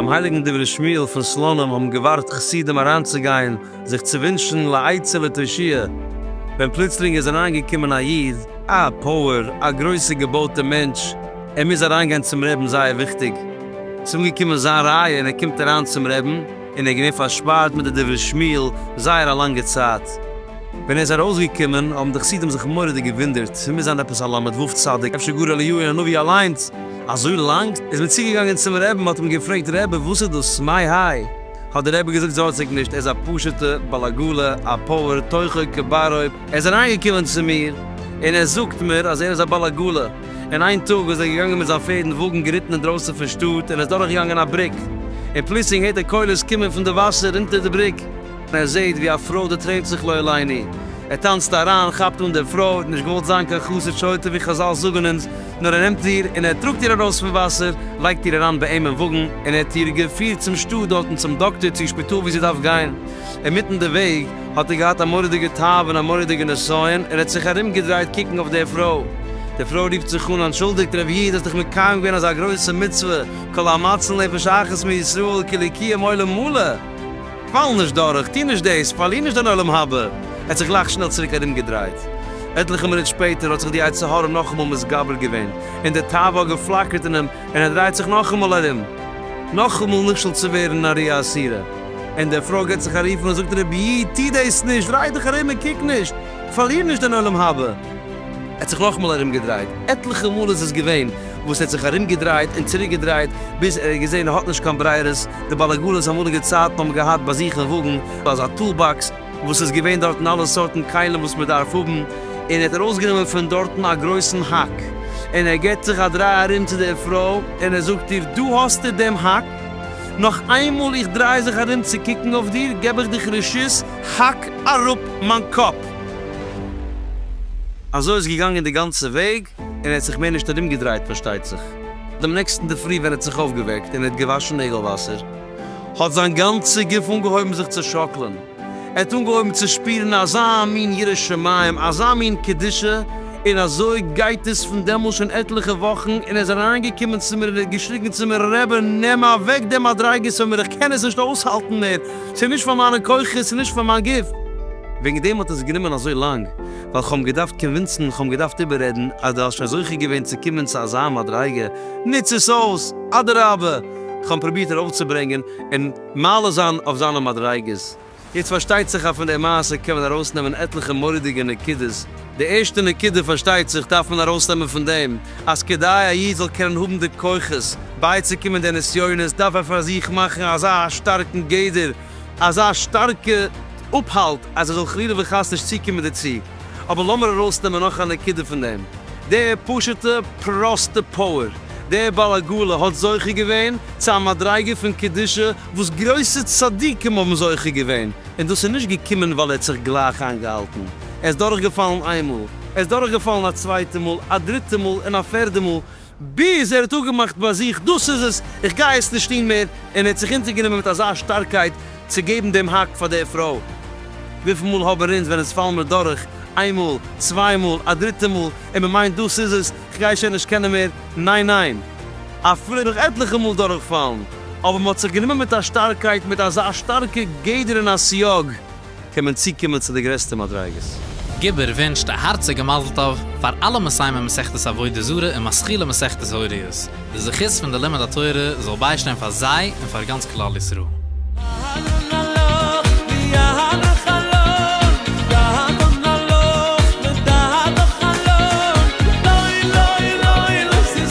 ביים הייליגן דברי שמואל פון סלאנים האבן געווארט חסידים אריינצוגיין זיך צו ווינטשן לעצה ותושיע, ווען פלוצלינג איז אריינגעקומען א איד, א פויער, א גרויסע געבויטע מענטש, ער מוז אריין גיין צום רעבן זייער וויכטיג, ס'איז אנגעקומען זיין רייע און ער קומט אריין צום רעבן און ער געווען פארשפארט מיט די דברי שמואל זייער א לאנגע צייט, ווען ער איז ארויס געקומען האבן די חסידים זיך מוראדיג געווינדערט, ס'מוז זיין עפעס א למד וו צדיק אפשר גאר אליהו הנביא אליינס, אזוי לאנג? איז מען צוגעגאנגען צום רעבן מ'האט אים געפרעגט רעבע וואס איז דאס מאי האי? האט די רעבע געזאגט זארגט זיך נישט ער איז א פשוטע בעל עגלה א פועל תוכו כברו, ער איז אריין געקומען צו מיר און ער זאגט מיר אז ער איז א בעל עגלה, און איין טאג איז ער געגאנגען מיט זיין פערד און וואגן געריטן אינדרויסן פון שטאט און ער איז דורך געגאנגען א בריק און פלוצלינג הערט ער קולות קומען פון די וואסער אונטער די בריק, ער זעט ווי א פרוי דערטרענט זיך לא עליני, ער טאנצט אריין, כאפט אן דער פרוי, האט נישט געוואלט זיין קיין חסר שוטה ווי חזל זאגן אונז, נאר ער נעמט איר און ער טראגט איר ארויס פון וואסער, לייגט איר אריין ביי אים אין וואגן און ער האט איר געפירט צום שטאט דארטן צום דאקטער צו שפיטאל ווי זי דארף גיין, אינמיטן די וועג. האט ער געהאט א מורא'דיגע תאווה און א מורא'דיגע נסיון, ער האט זיך ארום געדרייט קוקן אויף די פרוי, די פרוי רופט זיך אן, אנטשולדיגט רב איד, האסט דאך מקיים געווען אזא גרויסע מצוה, כל המציל נפש אחת מישראל כאילו קיים עולם מלא, פאל נישט דורך, טו נישט דאס, פארליר נישט דיין עולם הבא, ער האט זיך גלייך שנעל צוריק ארום געדרייט. עטליכע מינוט שפעטער האט זיך די יצר הרע נאכאמאל מתגבר געווען, און די תאווה האט געפלאקערט אין אים, און ער דרייט זיך נאכאמאל ארום, נאכאמאל נכשל צו ווערן נאריה אסירה. און דער פרוי געט זיך א רוף און זאגט רבי איד טו דאס נישט, דריי דיך ארום און קוק נישט, פארליר נישט דיין עולם הבא. ער האט זיך נאכאמאל ארומגעדרייט, עטליכע מאל איז עס געווען וואס ער האט זיך ארומגעדרייט און צוריקגעדרייט, ביז ער האט געזען ער האט נישט קיין ברירות, די באלעגאלעס אמאליגע צייטן האבן געהאט ביי זיך אין וואגן אזא טול באקס וואס איז געווען דארטן אלע סארטן כלים וואס מען דארף האבן, און ער האט ארויסגענומען פון דארטן א גרויסן האק, און ער געט זיך א דריי ארום צו דער פרוי און ער זאגט איר דא האסטו דעם האק, נאך איינמאל איך דריי זיך ארום צו קוקן אויף דיר, געב איך דיך רשות, האק אראפ מיין קאפ! אזוי איז געגאנגען די גאנצע וועג, און ער האט זיך מער נישט ארומגעדרייט פארשטייט זיך. דעם נעקסטן אינדערפרי ווען ער האט זיך אויפגעוועקט און ער האט געוואשן נעגל וואסער, האט זיין גאנצע גוף אנגעהויבן זיך צו שאקלען. ער האט אנגעהויבן צו שפירן אזא מין יראת שמים, אזא מין קדושה, און אזוי גייט עס פון דעמאלס שוין עטליכע וואכן, און ער איז אריינגעקומען צו מיר און ער האט געשריגן צו מיר, רעבע, נעם אוועק די מדריגות פון מיר, איך קען עס נישט אויסהאלטן מער, ס'איז נישט פאר מיינע כוחות, ס'איז נישט פאר מיין גוף. וועגן דעם האט עס גענומען אזוי לאנג, ווייל כ'האב אים געדארפט קאנווינסן, כ'האב אים געדארפט איבעררעדן, אז דו האסט שוין זוכה געווען צו קומען צו אזא מדריגה, נוץ עס אויס, אדרבה, כ'האב אים פרובירט ארויפצוברענגען, און. מעלה זיין אויף זיינע מדריגות. יעצט פארשטייט זיך אז פון די מעשה קען מען ארויסנעמען עטליכע מורא'דיגע נקודות, די ערשטע נקודה פארשטייט זיך דארף מען ארויסנעמען פון דעם, אז כדי א איד זאל קענען האבן די כוחות בייצוקומען די נסיונות דארף ער פאר זיך מאכן אזא שטארקן גדר, אזא שטארקע אפהאלט אז ער זאל חלילה וחס נישט צוקומען דערצו. אבער לאמיר ארויסנעמען נאך א נקודה פון דעם, דער פשוטע פראסטע פאוער, דער בעל הגאולה האט זוכה געווען צו א מדריגה פון קדושה וואס גרויסע צדיקים האבן זוכה געווען, און דאס איז נישט געקומען ווייל ער האט זיך גלייך איינגעהאלטן, ער איז דורכגעפאלן איינמאל, ער איז דורכגעפאלן א צווייטע מאל, א דריטע מאל און א פערדע מאל, ביז ער האט אפגעמאכט ביי זיך, דאס איז עס, איך גיי עס נישט טון מער, און ער האט זיך אונטערגענומען מיט אזא שטארקייט צו געבן דעם האק פאר דער פרוי. וויפיל מאל האבן אונז, ווען עס פאלן מיר דורך, איין מאל, צוויי מאל, א דריטע מאל, און מען מיינט דאס איז עס, איך גיי שוין נישט קענען מער, ניין ניין, אפילו נאך עטליכע מאל דורכפאלן, אבער מען האט זיך גענומען מיט א שטארקייט, מיט אזא שטארקע גדר און א סייג, קען מען צוקומען צו די גרעסטע מדריגות. גובר ווינטשט א הארציגע מזל טוב פאר אלע מסיימי מסכת עבודה זרה און משכילי מסכת הוריות, די זכות פון די לימוד התורה זאל ביישטיין פאר זיי און פאר גאנץ כלל ישראל. אהלן אהלן ווי א האלע חלום דהאלן אהלן לדהלך אהלן לוי לוי לוי לוי